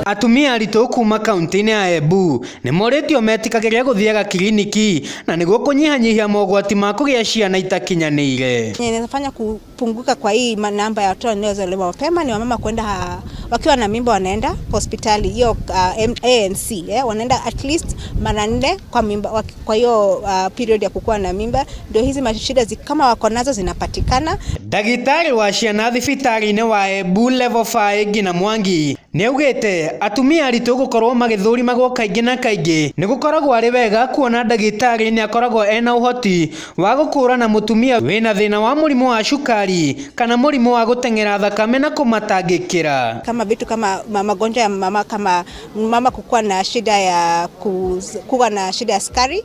Atumia aritũ kuma kaunti-inĩ ya Embu nĩ morĩtio metikagĩre gũthiaga kiriniki na nĩguo kũnyihanyihia mogwati ma kũgĩa ciana itakinyanĩire. Yenye inafanya kupunguka kwa hii ma- namba ya watoto wanaozaliwa mapema ni wamama kwenda ha- wakiwa na mimba wanaenda hospitali hiyo uh, M- ANC eh, wanaenda at least mara nne kwa mimba waki- kwa hiyo uh, period ya kukuwa na mimba, ndio hizi mashida zi, kama wako nazo zinapatikana. Ndagĩtarĩ wa ciana thibitarĩ-inĩ wa Embu Level 5 Ngina Mwangi nĩaugĩte atumia aritũ gũkorwo magĩthũrimagwo kaingĩ na kaingĩ nĩgũkoragwo arĩ wega kuona ndagĩtarĩ nĩakoragwo ena ũhoti wa gũkũrana mũtumia wĩna thĩna wa mũrimũ wa cukari kana mũrimũ wa gũteng'era thakame na kũmatangĩkĩra. kama vitu kama ma- magonjwa ya mama kama mama kukuwa na shida ya kuz, kuwa na shida ya sukari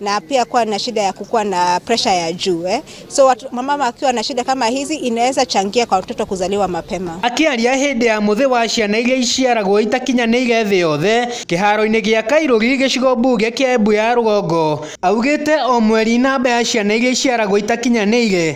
na pia kuwa na shida ya kukuwa na presha ya juu eh. So watu, mama akiwa na shida kama hizi inaweza changia kwa watoto kuzaliwa mapema. Akĩaria hĩndĩ ya mũthĩ wa ciana iria iciaragwo itakinyanĩire thĩ yothe kĩharo-inĩ gĩa Kairũri gĩcigo mbunge kĩa Embu ya rũgongo, augĩte o mweri namba ya ciana iria iciaragwo itakinyanĩire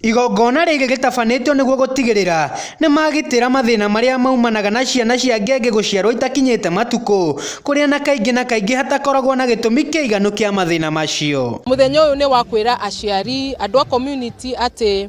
Igongona rĩrĩ rĩtabanĩtio nĩguo gũtigĩrĩra nĩ magitĩra mathĩna marĩa maumanaga na ciana cia ngenge gũciarũo itakinyĩte matukũ, kũrĩa na kaingĩ na kaingĩ hatakoragwo na gĩtũmi kĩiganu kĩa mathĩna macio. Mũthenya ũyũ nĩ wa kwĩra aciari, andũ a community atĩ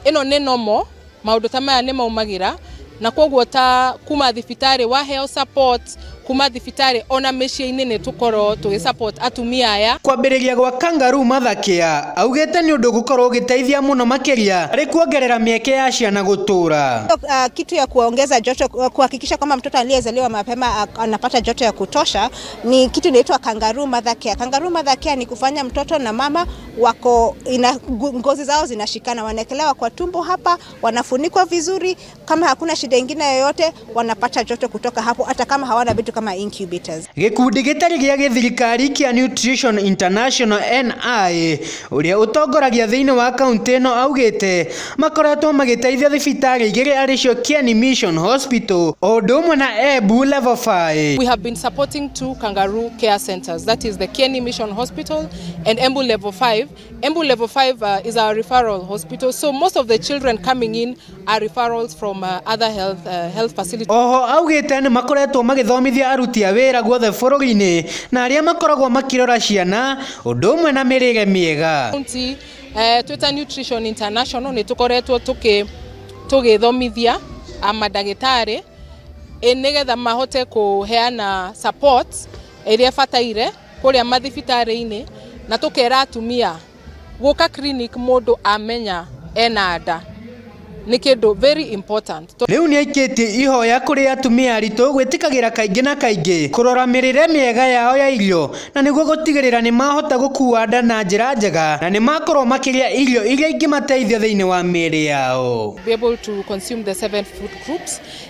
ĩno nĩ normal. Maũndũ ta maya nĩ maumagĩra na kwoguo ta kuma thibitarĩ waheo support kuma thibitarĩ ona mĩciĩ-inĩ nĩ tũkorwo tũgĩ support atumia aya. Kwambĩrĩria gwa Kangaroo Martha Care augĩte nĩ ũndũ ũgũkorwo ũgĩteithia mũno makĩria harĩ kuongerera mĩeke ya ciana gũtũra. Kitu ya kuongeza joto kuhakikisha kwamba mtoto aliyezaliwa mapema anapata joto ya kutosha ni kitu inaitwa Kangaroo Mother Care. Kangaroo Mother Care ni kufanya mtoto na mama wako ina, ngu- ngozi zao zinashikana, wanaekelewa kwa tumbo hapa, wanafunikwa vizuri. Kama hakuna shida ingine yoyote, wanapata joto kutoka hapo, hata kama hawana vitu kama incubators. gĩkundi gĩtarĩ gĩa gĩthirikari kĩa nutrition international ni ũrĩa ũtongoragia thĩinĩ wa kaunti ĩno augĩte makoretwo magĩteithia thibitarĩ igĩrĩ arĩ cio kieni mission hospital o ũndũ ũmwe na embu level 5 We have been supporting two kangaroo care centers, that is the Kieni Mission Hospital and Embu level 5. Embu level 5 uh, is our referral hospital. So most of the children coming in are referrals from uh, other health, uh, health facilities. Oho augĩte nĩ makoretwo magĩthomithia aruti a wĩra guothe bũrũri-inĩ na arĩa makoragwo makirora ciana ũndũ ũmwe na mĩrĩre mĩega. County, uh, Twitter Nutrition International nĩ tũkoretwo tũgĩthomithia amadagĩtarĩ nĩgetha mahote kũheana support ĩrĩa bataire kũrĩa mathibitarĩ-inĩ na tũkera atumia gũka clinic mũndũ amenya ena nda nĩ kĩndũ very important. Rĩu nĩ aikĩtie ihoya kũrĩ atumia aritũ gwĩtĩkagĩra kaingĩ na kaingĩ kũrora mĩrĩre mĩega yao ya irio na nĩguo gũtigĩrĩra nĩ mahota gũkua nda na njĩra njega na nĩ makorũo makĩrĩa irio iria ingĩmateithia thĩinĩ wa mĩĩrĩ yao.